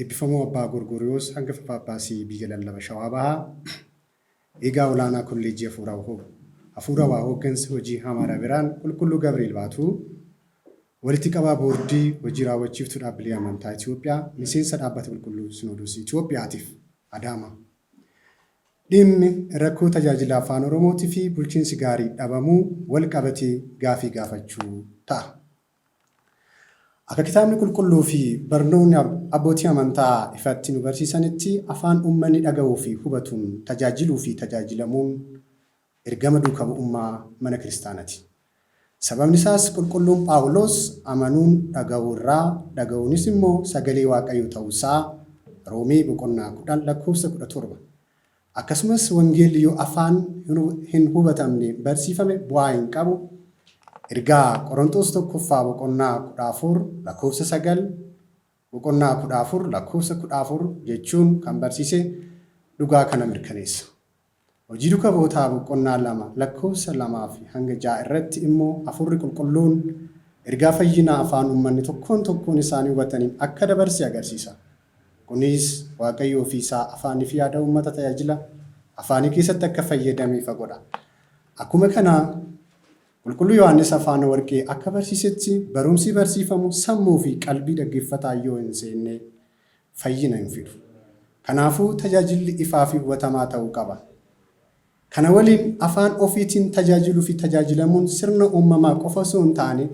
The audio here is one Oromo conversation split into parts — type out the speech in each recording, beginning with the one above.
Eebbifamoo Abbaa Gorgoriyoos Hangafa Phaaphaasii Biyya Lallaba Shawaa Bahaa, Eegaa Olaanaa Kolleejjii Hafuurawhoo, Hafuurawaa Hooggansa Hojii Hamaara Birhaan Qulqulluu Gabri'eel Baatuu, Walitti Qabaa Boordii Hojii Raawwachiiftuu Dhaabbilee Amantaa Itiyoophiyaa, Miseensa Dhaabbata Qulqulluu Sinoodoosii Itiyoophiyaatiif, Adaamaa. Dhimmi rakkoo tajaajila Afaan Oromootifi bulchiinsi gaarii dhabamuu wal qabatee gaafii gaafachuu ta'a. Akka Kitaabni Qulqulluu fi barnoonni abbootii amantaa ifatti nu barsiisanitti, afaan uummanni dhaga'uu fi hubatuun tajaajiluu fi tajaajilamuun ergama duuka bu'ummaa mana kiristaanati. Sababni isaas Qulqulluun Phaawuloos amanuun dhaga'uu irraa, dhaga'uunis immoo sagalee Waaqayyoo ta'uu isaa Roomee boqonnaa 10 lakkoofsa 17 Akkasumas wangeelli yoo afaan hin hubatamneen barsiifame bu'aa hin qabu, Ergaa Qoronxoos 1ffaa boqonnaa 14 lakkoofsa 9, boqonnaa 14 lakkoofsa 14 jechuun kan barsiise dhugaa kana mirkaneessa. Hojii Duka Bu'otaa boqonnaa 2 lakkoofsa 2-6 irratti immoo Hafuurri Qulqulluun ergaa fayyinaa afaan uummanni tokkoon tokkoon isaanii hubataniin akka dabarse agarsiisa. Kunis Waaqayyo ofii isaa afaanii fi aadaa uummata tajaajila afaanii keessatti akka fayyadame ifa godha. Akkuma kana Qulqulluu Yohaannis Afaana Warqee akka barsiisetti barumsi barsiifamu sammuu fi qalbii dhaggeeffataa yoo hin seenne fayyina hin fidu. Kanaafuu tajaajilli ifaa fi hubatamaa ta'uu qaba. Kana waliin afaan ofiitiin tajaajiluufi tajaajilamuun sirna uummamaa qofa osoo hin taane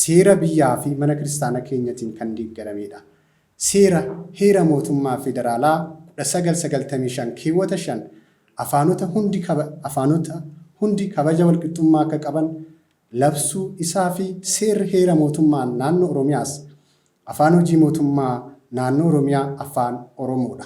seera biyyaafi mana kiristaana keenyatiin kan deeggarameedha. Seera, Heera Mootummaa Federaalaa 1995 keewwata 5 afaanota hundi afaanota hundi kabaja walqixxummaa akka qaban labsuu isaafi seerri heera mootummaa naannoo Oromiyaas afaan hojii mootummaa naannoo Oromiyaa afaan Oromoodha.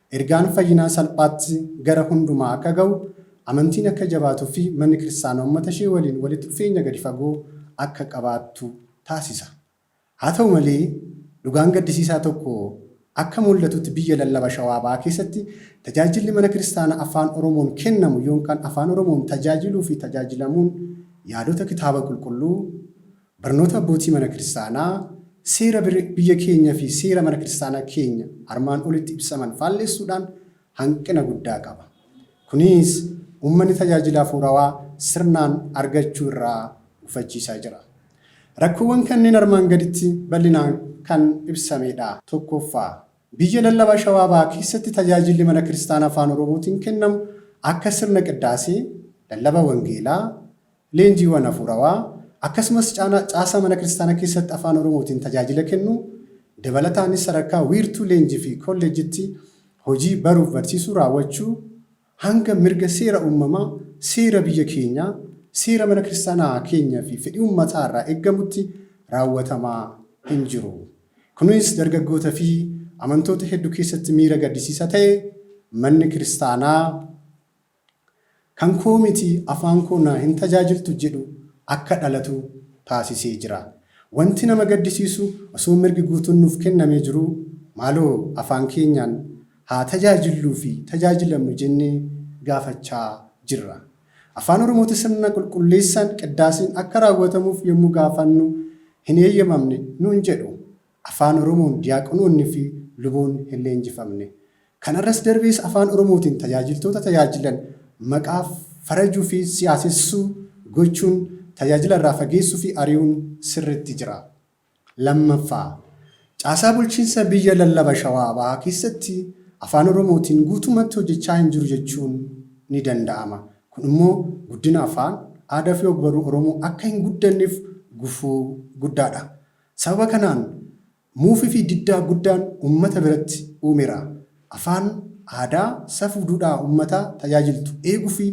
Ergaan fayyinaa salphaatti gara hundumaa akka ga'u, amantiin akka jabaatuu fi manni kiristaanaa uummata ishee waliin walitti dhufeenya gadi fagoo akka qabaattu taasisa. Haa ta'u malee, dhugaan gaddisiisaa tokko akka muldhatutti biyya lallaba Shawaa Bahaa keessatti tajaajilli mana kiristaanaa Afaan Oromoon kennamu ykn Afaan Oromoon tajaajiluu fi tajaajilamuun yaadota Kitaaba Qulqulluu, Barnoota Abbootii Mana Kiristaanaa, Seera biyya keenya fi seera Mana Kiristaanaa keenya armaan olitti ibsaman faallessuudhaan hanqina guddaa qaba. Kuniis uummanni tajaajila hafuurawaa sirnaan argachuu irraa gufachiisaa jira. Rakkoowwan kanneen armaan gaditti bal'inaan kan ibsamee dha. 1ffaa. Biyya lallabaa Shawaa Bahaa keessatti tajaajilli Mana Kiristaanaa Afaan Oromootiin kennamu akka sirna qiddaasee, lallaba wangeelaa, Leenjiiwwan Hafuurawaa, akkasumas caasaa Mana Kiristaanaa keessatti Afaan Oromootiin tajaajila kennuu, dabalataanis sadarkaa wiirtuu leenjii fi kolleejjitti hojii baruuf barsiisuu raawwachuu hanga mirga seera uummamaa, seera biyya keenyaa, seera Mana Kiristaanaa keenya fi fedhii uummataa irraa eggamutti raawwatamaa hin jiru. Kunis dargaggoota fi amantoota heddu keessatti miira gaddisiisa ta'e Manni Kiristaanaa. Kan koo miti afaan koo naa hin tajaajiltu jedhu akka dhalatu taasisee jira. Wanti nama gaddisiisu osoo mirgi guutuun nuuf kennamee jiruu maaloo afaan keenyaan haa tajaajilluu fi tajaajilamnu jennee gaafachaa jirra. Afaan Oromooti sirna qulqulleessaan, qiddaaseen, akka raawwatamuuf yommuu gaafannu hin eeyyamamne nuun jedhu. Afaan Oromoon Diyaaqonoonni fi Luboonni hin leenjifamne. Kana irras darbees Afaan Oromootiin tajaajiltoota tajaajilan maqaa farajuu fi siyaasessuu gochuun tajaajila irraa fageessuu fi ari'uun sirriitti jira. 2ffaa. Caasaa bulchiinsa biyya lallaba Shawaa Bahaa keessatti Afaan Oromootiin guutumatti hojjechaa hin jiru jechuun ni danda'ama. Kun immoo guddina afaan, aadaa fi ogbaruu Oromoo akka hin guddanneef gufuu guddaa dha. Sababa kanaan muufifi diddaa guddaan ummata biratti uumera. Afaan, aadaa, safuu duudhaa ummataa tajaajiltu eeguufi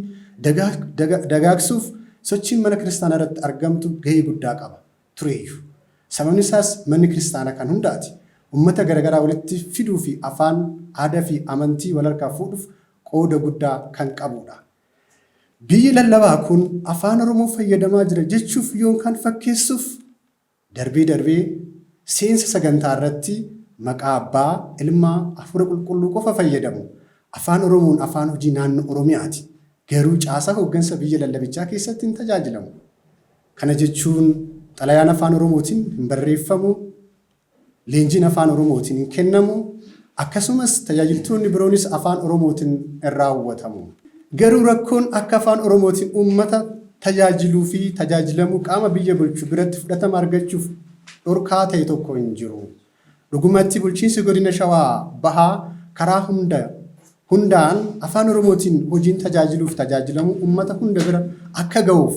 dagaagsuuf sochiin mana kiristaanaarratti argamtu gahee guddaa qaba tureeyyu. Sababni isaas manni kiristaanaa kan hundaati. Ummata garagaraa walitti fiduufi afaan, aadafi amantii walharkaa fuudhuuf qooda guddaa kan qabuudha. Biyyi lallabaa kun Afaan Oromoo fayyadamaa jira jechuuf yoonkaan fakkeessuuf Darbee darbee seensa sagantaa irratti maqaa Abbaa, Ilma, Afuura Qulqulluu qofa fayyadamu. Afaan Oromoon afaan hojii naannoo Oromiyaati. Garuu caasaa hooggansa biyya lallabichaa keessatti hin tajaajilamu. Kana jechuun xalayaan afaan Oromootiin hin barreeffamu Leenjiin Afaan Oromootiin kennamu akkasumas tajaajiltoonni biroonis Afaan Oromootiin raawwatamu. Garuu rakkoon akka Afaan Oromootiin uummata tajaajiluu fi tajaajilamuu qaama biyya bulchu biratti fudhatama argachuuf dhorkaa ta'e tokko hin jiru. Dhugumatti Bulchiinsi Godina Shawaa Bahaa karaa hunda hundaan Afaan Oromootiin hojiin tajaajiluu fi tajaajilamuu uummata hunda bira akka gahuuf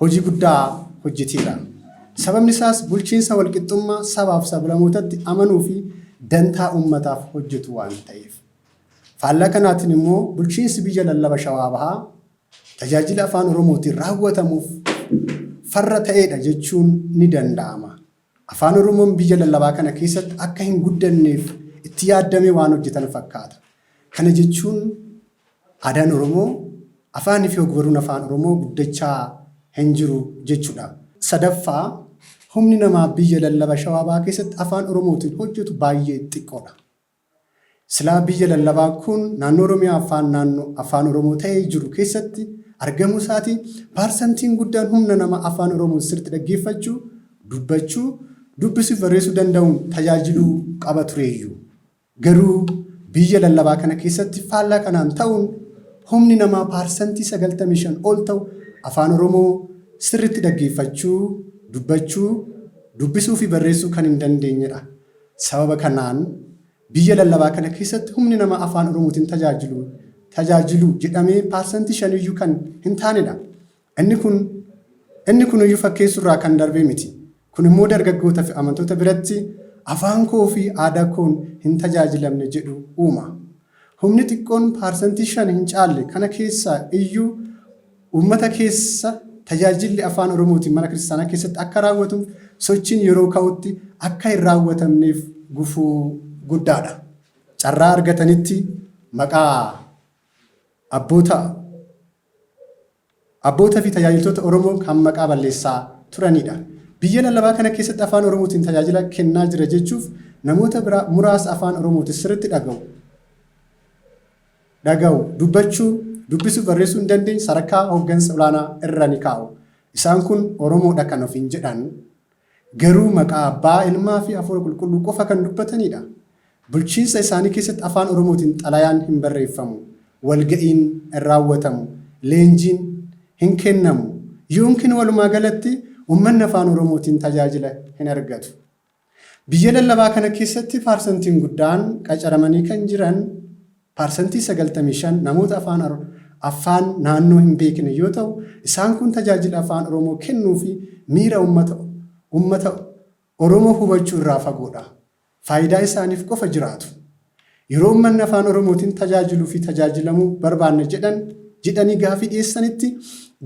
hojii guddaa hojjeteera. Sababni isaas bulchiinsa walqixxummaa sabaaf sablamootatti amanuu fi dantaa uummataaf hojjetu waan ta'eef. Faallaa kanaatiin immoo bulchiinsi biyya lallaba Shawaa Bahaa tajaajila Afaan Oromootiin raawwatamuuf farra ta'eedha jechuun ni danda'ama. Afaan Oromoon biyya lallabaa kana keessatti akka hinguddanneef itti yaaddamee waan hojjetan fakkaata. Kana jechuun aadaan Oromoo, afaaniifi ogbaruun Afaan Oromoo guddachaa hinjiru jechuudha. Sadaffaa, humni namaa biyya lallaba Shawaa Bahaa keessatti Afaan Oromootiin hojjetu baay'ee xiqqoodha. Silaa biyya lallabaa kun naannoo Oromiyaa Afaan naanno Afaan Oromoo ta'ee jiru keessatti argamuu isaatiin paarsantiin guddaan humna nama Afaan Oromoo sirritti dhaggeeffachuu, dubbachuu, dubbisuu fi barreessuu danda'uun tajaajiluu qaba tureeyyu. Garuu biyya lallabaa kana keessatti faallaa kanaan ta'uun humni namaa paarsantii 95 ol ta'u Afaan Oromoo sirritti dhaggeeffachuu, dubbachuu, dubbisuu fi barreessuu kan hin dandeenyedha. Sababa kanaan biyya lallabaa kana keessatti humni nama Afaan Oromootiin tajaajilu tajaajilu jedhamee parsantii shaniyyuu kan hintaanedha. Inni kun inni kunuyyuu fakkeessuurraa kan darbe miti. Kun immoo dargaggootafi amantoota biratti afaan koofi aadaa koon hintajaajilamne jedhu uuma. Humni xiqqoon parsantii shan hincaalle kana keessaa iyyuu Uummata keessa tajaajilli Afaan Oromootiin mana kiristaanaa keessatti akka raawwatuuf sochiin yeroo ka'utti akka hin raawwatamneef gufuu guddaadha. Carraa argatanitti maqaa abboota abboota fi tajaajiltoota Oromoo kan maqaa balleessaa turanidha. Biyya lallabaa kana keessatti Afaan Oromootiin tajaajila kennaa jira jechuuf namoota biraa muraasa Afaan Oromootiin sirriitti dhaga'u dhaga'u, dubbachuu, dubbisuuf barreessuu hin dandeenye sadarkaa hoggansa olaanaa irra ni kaa'u. Isaan kun Oromoodha kan ofiin jedhan garuu maqaa Abbaa, Ilmaa fi Hafuura Qulqulluu qofa kan dubbataniidha. Bulchiinsa isaanii keessatti Afaan Oromootiin xalayaan hin barreeffamu, walga'iin hin raawwatamu, leenjiin hin kennamu, ykn walumaagalatti ummanni Afaan Oromootiin tajaajila hin argatu. Biyya lallabaa kana keessatti paarsantiin guddaan qacaramanii kan jiran, parsantii 95, namoota afaan affaan naannoo hin beekne yoo ta'u, isaan kun tajaajila Afaan Oromoo kennuu fi miira ummata ummata Oromoo hubachuu irraa fagoo dha. Faayidaa isaaniif qofa jiraatu. Yeroo ummanni Afaan Oromootiin tajaajiluu fi tajaajilamuu barbaanna jedhan jedhanii gaafii dhiyeessanitti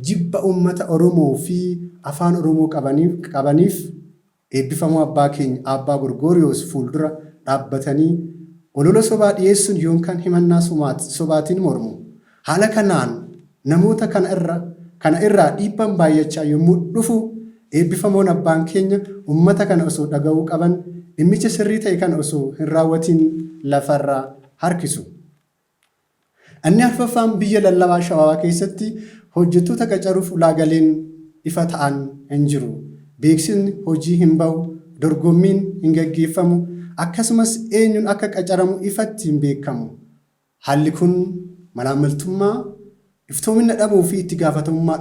jibba ummata Oromoo fi Afaan Oromoo qabaniif qabaniif Eebbifamoo Abbaa keenya Aabbaa Gorgooriyoos fuuldura dhaabbatanii olola sobaa dhiyeessuun yoonkaan himannaa sobaatiin mormu. Haala kanaan namoota kana irra kana irraa dhiibbaan baayyachaa yommuu dhufu eebbifamoon Abbaan keenya ummata kana osoo dhaga'uu qaban dhimmicha sirrii ta'e kana osoo hin raawwatiin lafarraa harkisu. Inni arfaffaan biyya lallabaa Shawaa keessatti hojjettoota qacaruuf ulaagaleen ifa ta'an hin jiru. Beeksifni hojii hin bahu, dorgommiin hin gaggeeffamu, akkasumas eenyuun akka qacaramu ifatti hin beekamu. Haalli kun malaammaltummaa, iftoomina dhabuu fi itti gaafatamummaa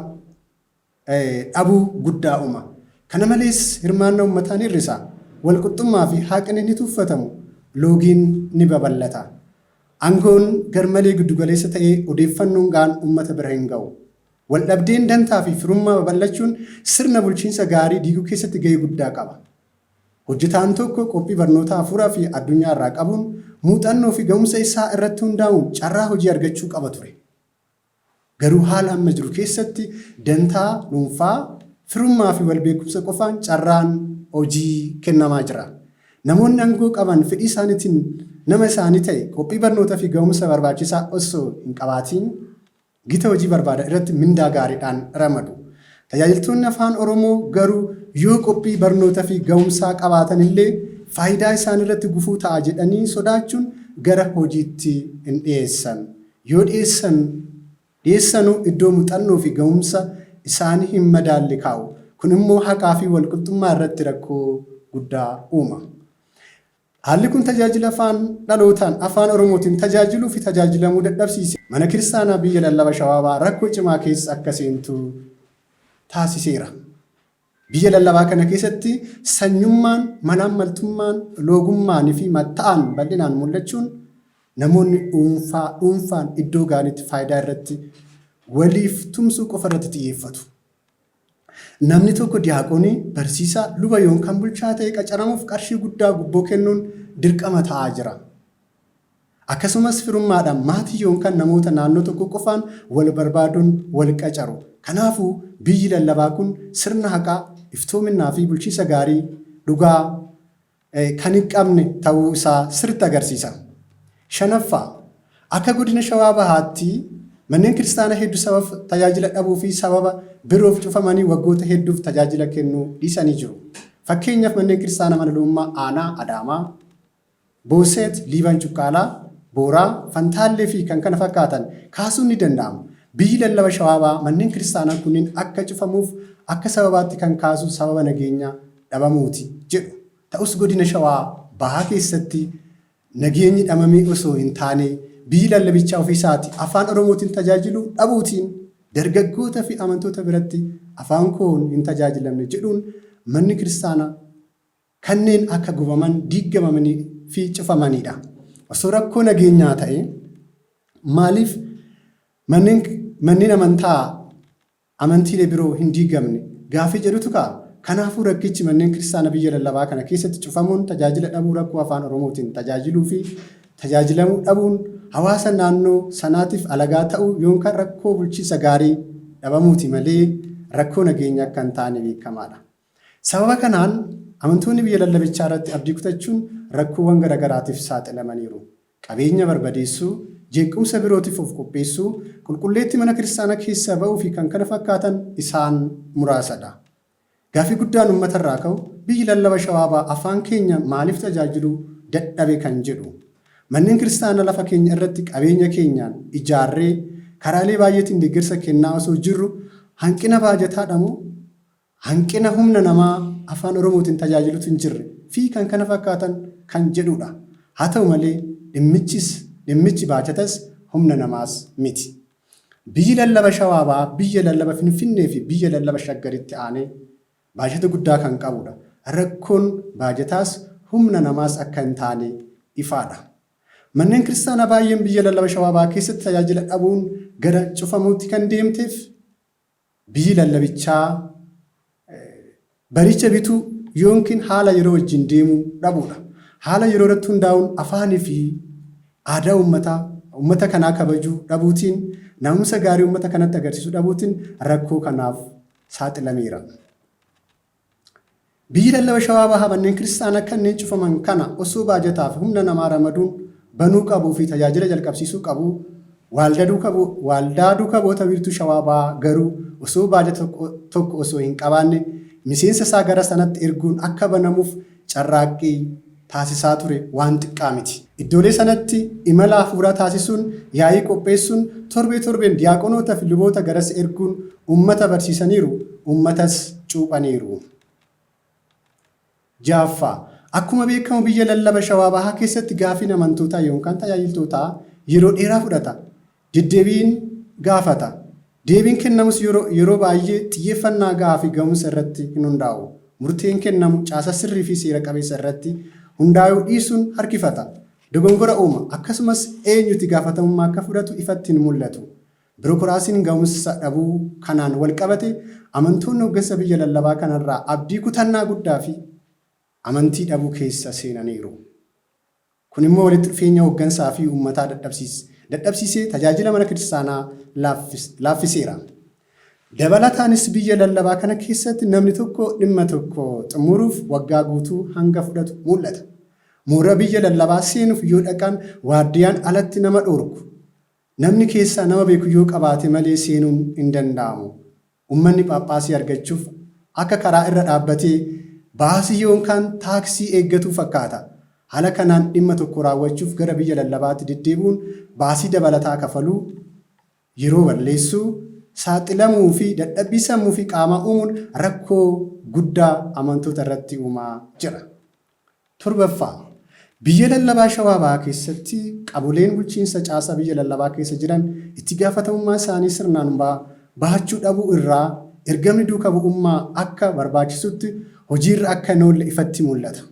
dhabuu guddaa uuma. Kana malees hirmaannaa ummataa ni hir'isa, walqixxummaa fi haaqni ni tuuffatamu, loogiin ni babal'ata. Angoon garmalee giddugaleessa ta'ee odeeffannoon ga'aan ummata bira hin ga'u. Waldhabdeen dantaa fi firummaa babal'achuun sirna bulchiinsa gaarii diiguu keessatti ga'ee guddaa qaba. Hojjetaan tokko qophii barnootaa hafuuraa fi addunyaa irraa qabuun muuxannoo fi ga'umsa isaa irratti hundaa'uun carraa hojii argachuu qaba ture. Garuu haala amma jiru keessatti dantaa dhuunfaa, firummaa fi wal beekumsa qofaan carraan hojii kennamaa jira. Namoonni angoo qaban fedhii isaaniitiin nama isaanii ta'e qophii barnootaa fi gahumsa barbaachisaa osoo hin qabaatiin gita hojii barbaadan irratti mindaa gaariidhaan ramadu. Tajaajiltoonni Afaan Oromoo garuu yoo qophii barnoota fi gahumsaa qabaatan illee faayidaa isaanii irratti gufuu ta'a jedhanii sodaachuun gara hojiitti hin dhiyeessan. Yoo dhiyeessan dhiyeessanu iddoo muxannoo fi gahumsa isaani hin madaalle kaa'u. Kun immoo haqaa fi walqixxummaa irratti rakkoo guddaa uuma. Haalli kun tajaajila afaan dhalootaan Afaan Oromootiin tajaajiluu fi tajaajilamuu dadhabsiise Mana Kiristaanaa Biyya Lallaba Shawaabaa rakkoo cimaa keessa akka seentu taasiseera. Biyya lallabaa kana keessatti sanyummaan, malaammaltummaan, loogummaaniifi matta'aan bal'inaan mul'achuun namoonni dhuunfaa dhuunfaan iddoo ga'anitti faayidaa irratti, waliif tumsuu qofa irratti xiyyeeffatu. Namni tokko diyaaqoonii, barsiisaa, luba yoon kan bulchaa ta'e qacaramuuf qarshii guddaa gubboo kennuun dirqama ta'aa jira. Akkasumas firummaadhaan maatii yoonkaan namoota naannoo tokkoo qofaan wal barbaaduun wal qacaru. Kanaafuu biyyi lallabaa kun sirna haqaa, iftoominnaa fi bulchiinsa gaarii dhugaa kan hin qabne ta'uu isaa sirriitti agarsiisa. Shanaffaa, akka Godina Shawaa Bahaatti manneen kiristaanaa heddu sabab tajaajila dhabuu fi sababa biroof cufamanii waggoota hedduuf tajaajila kennuu dhiisanii jiru. Fakkeenyaaf manneen kiristaanaa Mana Luummaa Aanaa Adaamaa, Boosseet, Liiban Cuqqaalaa, Booraa, Fantaallee fi kan kana fakkaatan kaasuun ni danda'ama. Biyyi lallaba Shawaabaa manneen kiristaanaa kunniin akka cufamuuf akka sababaatti kan kaasu sababa nageenya dhabamuuti jedhu. Ta'us godina Shawaa Bahaa keessatti nageenyi dhamamee osoo hin taane biyyi lallabichaa ofii isaati Afaan Oromootiin tajaajilu dhabuutiin dargaggoota fi amantoota biratti afaan koon hin tajaajilamne jedhuun manni kiristaana kanneen akka gubaman, diiggamamanii fi cufamanii dha. Osoo rakkoo nageenyaa ta'ee maaliif manneen manneen amantaa amantiilee biroo hin diigamne gaaffii jedhutu ka'a. Kanaafuu rakkichi manneen kiristaana biyya lallabaa kana keessatti cufamuun tajaajila dhabuu rakkoo afaan oromootiin tajaajiluu fi tajaajilamuu dhabuun hawaasa naannoo sanaatiif alagaa ta'uu yoonkan rakkoo bulchiinsa gaarii dhabamuuti malee rakkoo nageenyaa akka hin taane beekamaadha. Sababa kanaan amantoonni biyya lallabichaa irratti abdii kutachuun rakkoowwan gara garaatiif saaxilamaniiru. Qabeenya barbadeessuu, jeequmsa birootiif of qopheessuu, qulqulleettii mana kiristaanaa keessaa ba'uu fi kkf isaan muraasa dha. Gaaffii guddaan ummata irraa ka'u biyyi lallaba Shawaa Bahaa afaan keenya maaliif tajaajiluu dadhabe kan jedhu. Manneen kiristaanaa lafa keenya irratti qabeenya keenyaan ijaarree karaalee baay'eetiin deeggarsa kennaa osoo jirru hanqina baajataa dha moo hanqina humna namaa Afaan Oromootiin tajaajilutu hin jirre fi kkf kan jedhuu dha. Haa ta'u malee dhimmichis dhimmichi baajatas humna namaas miti. Biyyi lallaba Shawaa Bahaa biyya lallaba Finfinnee fi biyya lallaba Shaggaritti aanee baajata guddaa kan qabu dha. Rakkoon baajataas humna namaas akka hin taane ifaa dha. Manneen Kiristaanaa baay'een biyya lallaba Shawaa Bahaa keessatti tajaajila dhabuun gara cufamuutti kan deemteef Biyyi lallabichaa baricha bituu yoonkin haala yeroo wajjin deemuu dhabuudha. Haala yeroo irratti hundaa'uun afaanii fi aadaa uummataa uummata kanaa kabajuu dhabuutiin, na'umsa gaarii uummata kanatti agarsiisuu dhabuutiin rakkoo kanaaf saaxilameera. Biyyi lallaba Shawaa Bahaa manneen kiristaanaa kanneen cufaman kana osoo baajataa fi humna namaa ramaduun banuu qabuu fi tajaajila jalqabsiisuu qabu, Waaldaa Duuka Bu'oota Wiirtuu Shawaa Bahaa garuu osoo baajata tokko osoo hin qabaanne miseensa isaa gara sanatti erguun akka banamuuf carraaqqii. taasisaa ture waan xiqqaa miti. Iddoolee sanatti imala hafuuraa taasisuun, yaa'ii qopheessuun, torbee torbeen diyaaqonoota fi luboota garas erguun uummata barsiisaniiru, uummatas cuuphaniiru. 6ffaa. Akkuma beekamu biyya lallaba Shawaa Bahaa keessatti gaaffiin amantootaa yoonkaan tajaajiltootaa yeroo dheeraa fudhata. deddeebiin gaafata. Deebiin kennamus yeroo baay'ee xiyyeeffannaa gahaa fi gahumsa irratti hin hundaa'u. Murteen kennamu caasaa sirrii fi seera qabeessa irratti hundaayuu dhiisuun harkifata. Dogongora uuma. Akkasumas eenyuti gaafatamummaa akka fudhatu ifatti hin mul'atu. Birokiraasiin gahumsa dhabuu kanaan walqabate amantoonni hoggansa biyya lallabaa kanarraa abdii kutannaa guddaa fi amantii dhabuu keessa seenaniiru. Kun immoo walitti dhufeenya hoggansaa fi uummataa dadhabsiis dadhabsiisee tajaajila mana kiristaanaa laaffis laaffiseera. Dabalataanis biyya lallabaa kana keessatti namni tokko dhimma tokko xumuruuf waggaa guutuu hanga fudhatu muul'ata. Mooraa biyya lallabaa seenuuf yoo dhaqan waardiyaan alatti nama dhoorku. Namni keessaa nama beeku yoo qabaate malee seenuun hin danda'amu. Ummanni Phaaphaasii argachuuf akka karaa irra dhaabbatee baasii yoonkaan taaksii eeggatuu fakkaata. Hala kanaan dhimma tokko raawwachuuf gara biyya lallabaatti deddeebi'uun baasii dabalataa kafaluu, yeroo balleessuu, saaxilamuu fi dadhabbii sammuu fi qaamaa uumuun rakkoo guddaa amantoota irratti uumaa jira. 7ffaa. Biyya lallabaa Shawaa Bahaa keessatti qaboleen bulchiinsa caasaa biyya lallabaa keessa jiran itti gaafatamummaa isaanii sirnaan ba bahachuu dhabuu irraa ergamni duuka bu'ummaa akka barbaachisutti hojii irra akka hin oolle ifatti mul'ata.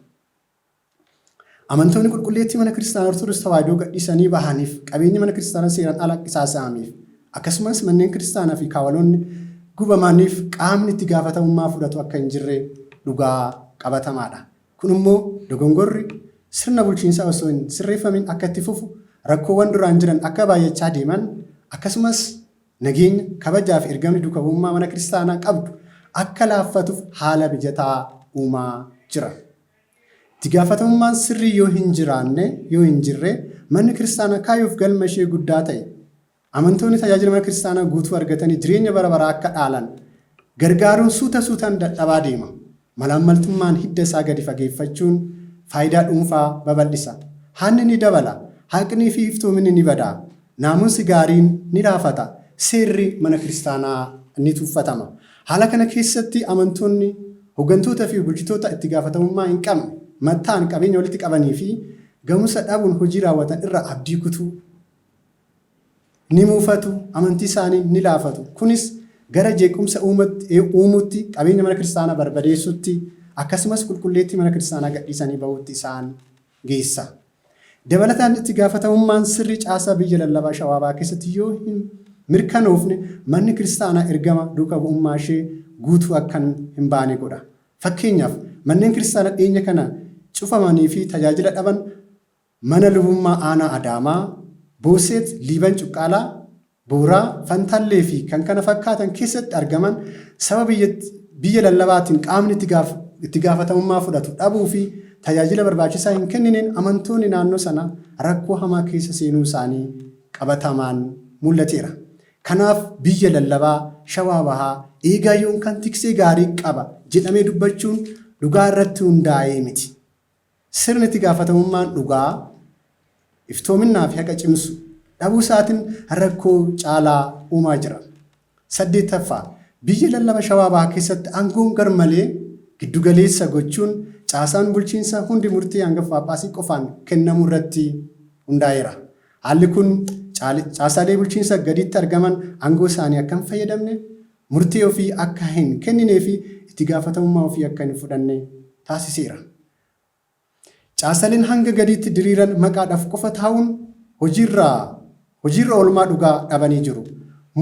Amantoonni qulqulleettii Mana Kiristaanaa Ortodoks Tawaahidoo gadhiisanii bahaniif, qabeenyi Mana Kiristaanaa seeraan ala qisaasa'ameef, Akkasumas manneen kiristaanaa fi kaawaloonni gubamaniif qaamni itti gaafatamummaa fudhatu akka hin jirre dhugaa qabatamaa dha. Kun immoo dogongorri sirna bulchiinsaa osoo hin sirreeffamin akka itti fufu, rakkoowwan duraan jiran akka baay'achaa deeman, akkasumas nageenya, kabajaa fi ergamni duuka bu'ummaa mana kiristaanaa qabdu akka laaffatuuf haala mijataa uumaa jira. Itti gaafatamummaan sirrii yoo hin jiraanne, yoo hin jirre, manni kiristaanaa kaayyoo fi galma ishee guddaa ta'e, Amantoonni tajaajila mana kiristaanaa guutuu argatanii jireenya bara baraa akka dhaalan gargaaruun suuta suutaan dadhabaa deema. Malaammaltummaan hidda isaa gadi fageeffachuun faayidaa dhuunfaa babal'isa. Hanni ni dabala, haqnii fi iftoominni ni bada, naamusi gaariin ni laafata, seerri mana kiristaanaa ni tuffatama. Haala kana keessatti amantoonni hoggantoota fi bulchitoota itti gaafatamummaa hin qabne, matta'an qabeenya walitti qabanii fi gahumsa dhabuun hojii raawwatan irraa abdii kutu. ni mufatu, amantii isaanii ni laafatu. Kunis gara jeequmsa uumuutti, qabeenya mana kiristaanaa barbadeessuutti, akkasumas qulqulleettii mana kiristaanaa gadhiisanii bahuutti isaan geessa. Dabalataan itti gaafatamummaan sirrii caasaa biyya lallabaa Shawaa Bahaa keessatti yoo hin mirkanoofne manni kiristaanaa ergama duuka bu'ummaa ishee guutuu akkan hin baane godha. Fakkeenyaaf, manneen kiristaana dhiyeenya kana cufamanii fi tajaajila dhaban Mana Lubummaa Aanaa Adaamaa, Boosseet, Liiban Cuqqaalaa, Booraa, Fantaallee fi kkf keessatti argaman sababa biyya lallabaatiin qaamni itti gaafatamummaa fudhatu dhabuu fi tajaajila barbaachisaa hin kennineen amantoonni naannoo sanaa rakkoo hamaa keessa seenuu isaanii qabatamaan mul'ateera. Kanaaf biyya lallabaa Shawaa Bahaa eegaa yoonkaan tiksee gaarii qaba jedhamee dubbachuun dhugaa irratti hundaa'ee miti. Sirni itti gaafatamummaan dhugaa, iftoominnaa fi haqa cimsu dhabuu isaatin rakkoo caalaa uumaa jira. 8ffaa, Biyya lallaba Shawaa Bahaa keessatti aangoon garmalee giddu galeessa gochuun caasaan bulchiinsa hundi murtii Angafa Phaaphaasii qofaan kennamuu irratti hundaa'eera. Haalli kun caasaalee bulchiinsa gadiitti argaman aangoo isaanii akka hin fayyadamne, murtee ofii akka hin kenninee fi itti gaafatamummaa ofii akka hin fudhanne taasiseera. Caasaleen hanga gadiitti diriiran maqaadhaf qofa taa'uun hojiirraa hojiirra oolmaa dhugaa dhabanii jiru.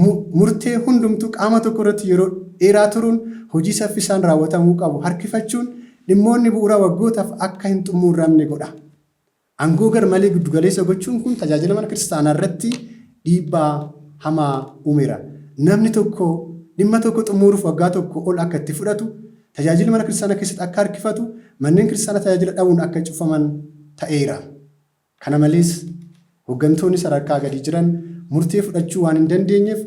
Mu, murtee hundumtuu qaama tokko irratti yeroo dheeraa turuun hojii saffisaan raawwatamuu qabu harkifachuun dhimmoonni bu'uuraa waggootaaf akka hin xummuurramne godha. Angoo garmalee giddugaleessa gochuun kun tajaajila mana kiristaanaa irratti dhiibbaa hamaa uumeera. Namni tokko dhimma tokko xumuuruuf waggaa tokko ol akka itti fudhatu, tajaajilli mana kiristaanaa keessatti akka harkifatu, manneen kiristaanaa tajaajila dhabuun akka cufaman ta'eera. Kana malees, hoggantoonni sadarkaa gadii jiran murtee fudhachuu waan hin dandeenyeef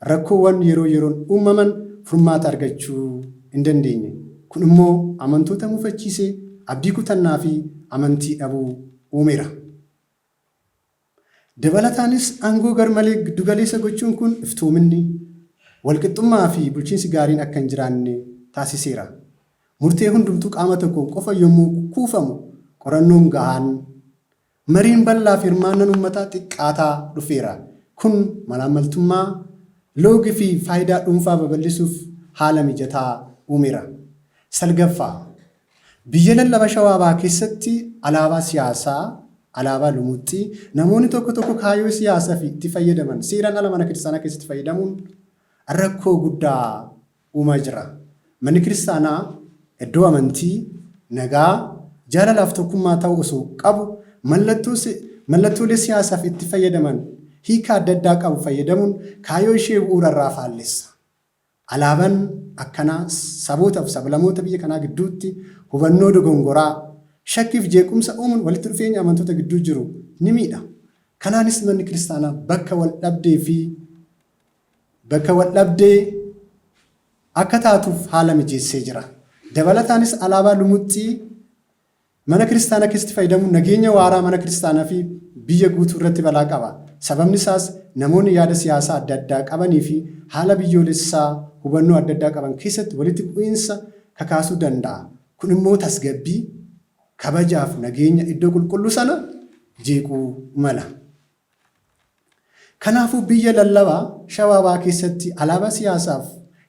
Rakkoowwan yeroo yeroon uummaman furmaata argachuu hin dandeenye. Kun immoo amantoota mufachiisee abdii kutannaa fi amantii dhabuu uumeera. Dabalataanis aangoo garmalee giddu galeessa gochuun kun iftoominni, wal qixxummaa fi bulchiinsi gaariin akka hin jiraanne taasiseera. Murtee hundumtuu qaama tokkoon qofa yommuu kuufamu qorannoon gahaan Mariin bal'aa fi hirmaannan ummataa xiqqaataa dhufeera. Kun malaammaltummaa, loogi fi faayidaa dhuunfaa babal'isuuf haala mijataa uumera. 9ffaa. Biyya lallaba Shawaa Bahaa keessatti alaabaa siyaasaa, alaabaa lumuuxxii, namoonni tokko tokko kaayoo siyaasafi itti fayyadaman seeraan ala mana kiristaanaa keessatti fayyadamuun rakkoo guddaa uumaa jira. Manni Kiristaanaa iddoo amantii, nagaa, jaalalaa fi tokkummaa ta'uu osoo qabu mallattoo mallattoolee siyaasaaf itti fayyadaman hiika adda addaa qabu fayyadamuun kaayoo ishee bu'uura irraa faallessa. Alaaban akkanaa saboota fi sablamoota biyya kanaa gidduutti hubannoo dogongoraa, shakkii fi jeequmsa uumuun walitti dhufeenya amantoota gidduu jiru ni miidha. Kanaanis Manni Kiristaanaa bakka wal dhabdee fi bakka waldhabdee akka taatuuf haala mijeessee jira. Dabalataanis alaabaa lumuxxii mana kiristaanaa keessatti fayyadamuun nageenya waaraa mana kiristaanaa fi biyya guutuu irratti balaa qaba. Sababni isaas namoonni yaada siyaasaa adda addaa qabanii fi haala biyyoolessaa hubannoo adda addaa qaban keessatti walitti bu'iinsa kakaasuu danda'a. Kun immoo tasgabbii, kabajaa fi nageenya iddoo qulqulluu sana jeequu mala. Kanaafuu biyya lallabaa Shawaa Bahaa keessatti alaabaa siyaasaaf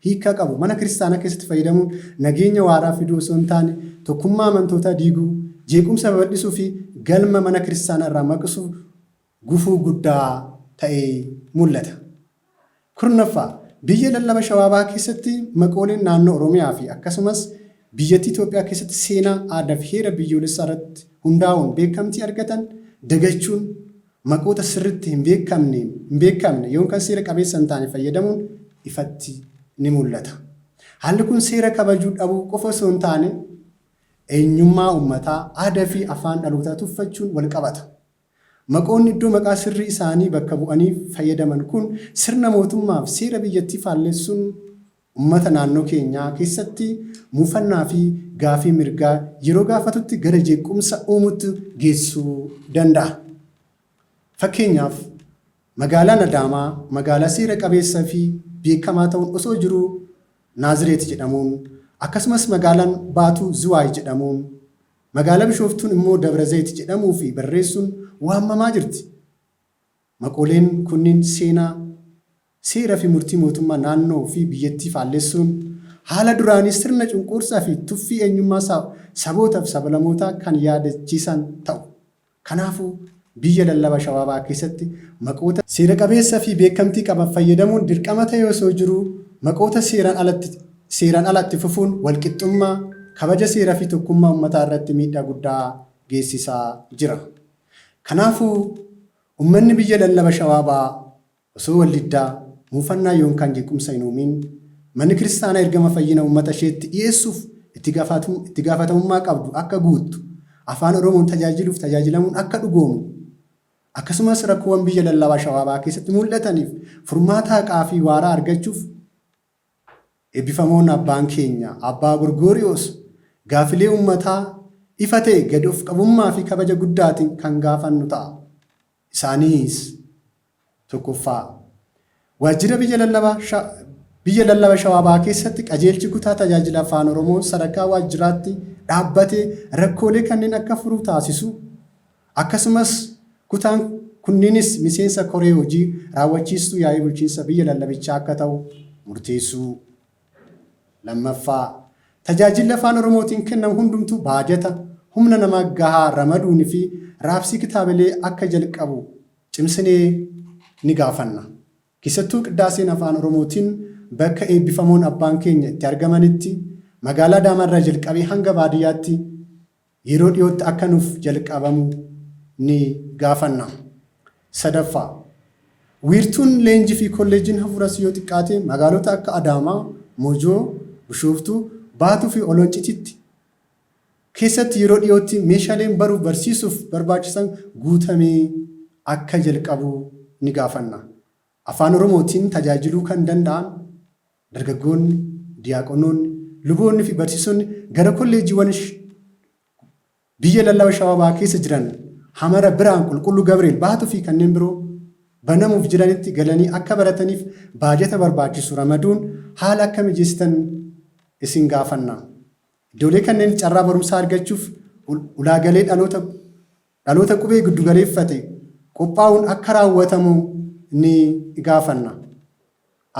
hiikkaa qabu mana kiristaanaa keessatti fayyadamuun nageenya waaraa fiduu osoo hin taane tokkummaa amantootaa diiguu, jeequmsa babal'isuu fi galma mana kiristaanaa irraa maqsuu gufuu guddaa ta'ee mul'ata. Kurnaffaa, Biyya lallaba Shawaa Bahaa keessatti maqooleen naannoo Oromiyaa fi akkasumas biyyattii Itoophiyaa keessatti seenaa, aadaa fi heera biyyoolessaa irratti hundaa'uun beekamtii argatan dagachuun maqoota sirriitti hin beekamneen, hin beekamne yookan seera qabeessa hin taane fayyadamuun ifatti ni mul'ata. Haalli kun seera kabajuu dhabuu qofa osoo hin taane eenyummaa uummataa, aadaa fi afaan dhalootaa tuffachuun wal qabata. Maqoonni iddoo maqaa sirrii isaanii bakka bu'aniif fayyadaman kun sirna mootummaaf seera biyyattii faallessuun ummata naannoo keenyaa keessatti muufannaa fi gaafii mirgaa yeroo gaafatutti gara jeeqqumsa uumutti geessuu danda'a. Fakkeenyaaf, Magaalaan Adaamaa magaalaa seera qabeessa fi beekamaa ta'uun osoo jiruu Naazireet jedhamuun, akkasumas magaalaan Baatuu Ziwaay jedhamuun Magaalaa Bishooftuun immoo Dabrazayit jedhamuu fi barreessuun waammamaa jirti. Maqooleen kunniin seenaa, seera fi murtii mootummaa naannoo fi biyyattii faallessuun, haala duraanii sirna cunquursaa fi tuffii eenyummaa saboota fi sabalamootaa kan yaadachiisan ta'u. Kanaafuu, biyya lallaba Shawaa Bahaa keessatti maqoota. seera qabeessa fi beekamtii qaban fayyadamuun dirqama ta'ee osoo jiruu maqoota seeraan alatti seeraan ala itti fufuun walqixxummaa, kabaja seera fi tokkummaa ummataa irratti miidhaa guddaa geessisaa jira. Kanaafuu, ummanni biyya lallaba Shawaa Bahaa Osoo wal diddaa, muufannaa yoonkaan jeequmsa hin uumiin, Manni Kiristaanaa ergama fayyina uummata isheetti dhiyeessuuf itti itti gaafatamummaa qabdu akka guuttu, Afaan Oromoon tajaajiluuf tajaajilamuun akka dhugoomu, akkasumas rakkoowwan biyya lallabaa Shawaa Bahaa keessatti muul'ataniif furmaata haqaa fi waaraa argachuuf Eebbifamoon Abbaan keenya Abbaa Gorgooriyoos gaafilee uummataa ifa ta'e gad of qabummaa fi kabaja guddaatiin kan gaafannu ta'a. Isaaniis, 1ffaa. Waajjira Biyya Lallaba Shawaa Bahaa keessatti Qajeelchi Kutaa Tajaajila Afaan Oromoo sadarkaa waajjiraatti dhaabbatee rakkoolee kanneen akka furu taasisu, akkasumas kutaan kunniinis miseensa koree hojii raawwachiistuu yaa'ii bulchiinsa biyya lallabichaa akka ta'u murteessuu. 2ffaa. Tajaajilli Afaan Oromootiin kennamu hundumtuu baajata, humna namaa gahaa ramaduun fi raabsii kitaabilee akka jalqabu cimsinee ni gaafanna. Keessattuu Qiddaaseen Afaan Oromootiin bakka eebbifamoon abbaan keenya itti argamanitti, Magaalaa Adaamaa irraa jalqabee hanga baadiyyaatti yeroo dhiyootti akka nuuf jalqabamu ni gaafanna. Sadaffaa, Wiirtuun leenjii fi kolleejjiin hafuuras yoo xiqqaate magaalota akka Adaamaa, Mojoo, Bushooftuu, Baatuu fi Oloncititti keessatti yeroo dhiyootti meeshaleen baruuf barsiisuuf barbaachisan guutamee akka jalqabu ni gaafanna. Afaan Oromootiin tajaajiluu kan danda'an Dargaggoonni, diyaaqonoonni, luboonni fi barsiisonni gara kolleejjiiwwan biyya lallaba Shawaa Bahaa keessa jiran Hamara, Birhaan, Qulqulluu Gabri'eel, Baatu fi kanneen biroo banamuuf jiranitti galanii akka barataniif baajata barbaachisu ramaduun haala akka mijeessitan isin gaafanna. Iddoolee kanneen carraa barumsaa argachuuf ulaagalee dhaloota dhaloota qubee giddugaleeffate qophaa'uun akka raawwatamu ni gaafanna.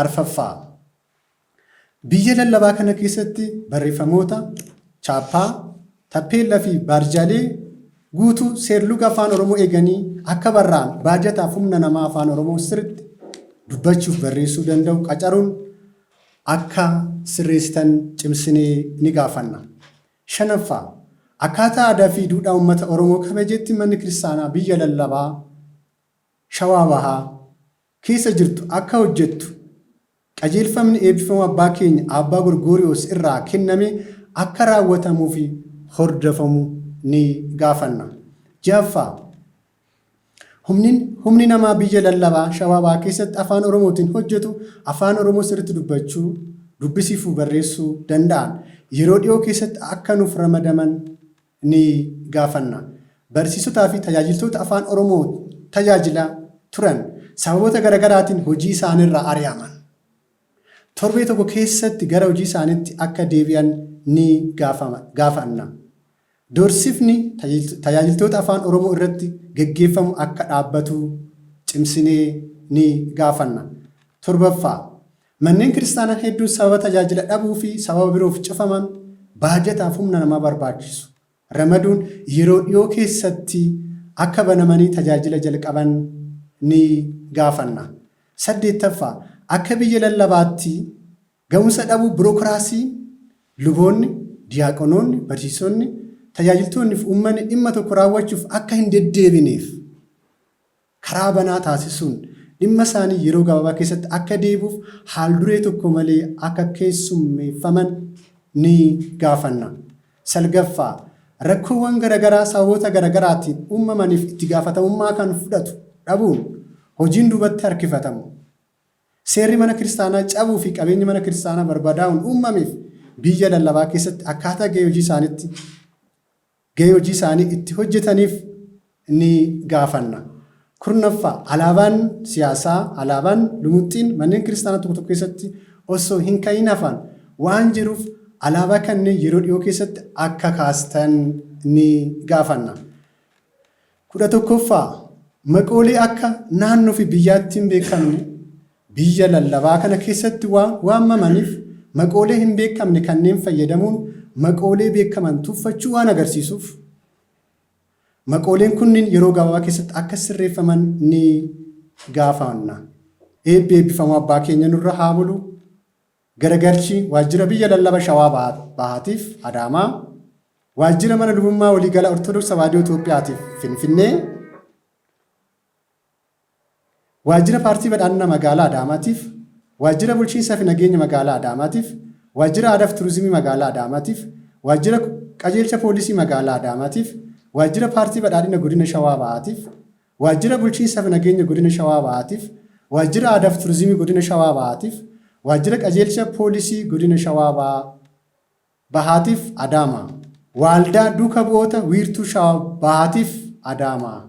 Arfaffaa. Biyya lallabaa kana keessatti barreeffamoota, chaappaa, tappeella fi baarjaalee guutuu seerluga Afaan Oromoo eeganii akka barraa'an baajataaf humna namaa Afaan Oromoo sirritti dubbachuuf barreessuu danda'u qacaruun akka sirreessitan cimsinee ni gaafanna. 5ffaa. Akkaataa aadaa fi duudhaa uummata Oromoo kabajeetti manni kiristaanaa biyya lallabaa, Shawaa Bahaa, keessa jirtu akka hojjettu qajeelfamni eebbifamoo abbaa keenya Aabbaa Gorgooriyoos irraa kenname akka raawwatamuu fi hordofamu ni gaafanna. 6ffaa. Humnin, humni namaa biyya lallabaa, shawaa bahaa keessatti afaan oromootiin hojjetu afaan oromoo sirritti dubbachuu, dubbisii fu barreessuu danda'an yeroo dhiyoo keessatti akka nuuf ramadaman ni gaafanna. Barsiisotaa fi tajaajiltoota afaan oromoo tajaajila turan sababoota gara garaatiin hojii isaanirraa ari'aman torbee tokko keessatti gara hojii isaanitti akka deebi'an ni gaafanna. Doorsifni tajaajiltoota Afaan Oromoo irratti gaggeeffamu akka dhaabbatu cimsinee ni gaafanna. 7ffaa. Manneen Kiristaanaa hedduun sababa tajaajila dhabuu fi sababa biroof cufaman baajataaf humna namaa barbaachisu ramaduun yeroo dhiyoo keessatti akka banamanii tajaajila jalqaban ni gaafanna. 8ffaa. Akka biyya lallabaatti Gahumsa dhabuu birokiraasii luboonni, diyaaqonoonni, barsiisonni, tajaajiltoonni fi uummanni dhimma tokko raawwachuuf akka hin deddeebineef karaa banaa taasisuun dhimma isaanii yeroo gabaabaa keessatti akka deebi'uuf haalduree tokko malee akka keessummeeffaman ni gaafanna. Salgaffaa, rakkoowwan garagaraa sababoota garagaraatiin uumamaniif itti gaafatamummaa kan fudhatu dhabuun hojiin duubatti harkifatamu Seerri mana kiristaanaa cabuu fi qabeenyi mana kiristaanaa barbadaa'uun uummameef biyya lallabaa keessatti akkaataa gahee hojii isaaniitti gahee hojii isaanii itti hojjetaniif ni gaafanna. 10ffaa Alaabaan siyaasaa, alaabaan, lumuxxiin manneen kiristaanaa tokko tokko keessatti osoo hin ka'iin hafaan waan jiruuf alaabaa kanneen yeroo dhiyoo keessatti akka kaastan ni gaafanna. 11ffaa, Maqoolee akka naannoofi biyyaatti hinbeekamne biyya lallabaa kana keessatti waan waamamaniif maqoolee hinbeekamne kanneen fayyadamuun maqoolee beekaman tuffachuu waan agarsiisuuf maqooleen kunniin yeroo gabaabaa keessatti akka sirreeffaman ni gaafanna. Eebbi eebbifamoo abbaa keenya nurra haabulu. Garagalchi Waajjira Biyya Lallaba Shawaa Bahaatiif Adaamaa, Waajjira Mana Lubummaa Waliigala Ortodoks Tawaahidoo Itoophiyaatiif Finfinnee, Waajjira Paartii Badhaadhina Magaalaa Adaamaatiif, Waajjira Bulchiinsa fi Nageenya Magaalaa Adaamaatiif, Waajjira Aadaa fi Turizimii Magaalaa Adaamaatiif, Waajjira Qajeelcha Poolisii Magaalaa Adaamaatiif, Waajjira Paartii Badhaadhina Godina Shawaa Bahaatiif, Waajjira Bulchiinsa fi Nageenya Godina Shawaa Bahaatiif, Waajjira Aadaa fi Turizimii Godina Shawaa Bahaatiif, Waajjira Qajeelcha Poolisii Godina Shawaa Bahaa Bahaatiif, Adaamaa. Waaldaa Duuka Bu'oota Wiirtuu Shawaa Bahaatiif, Adaamaa.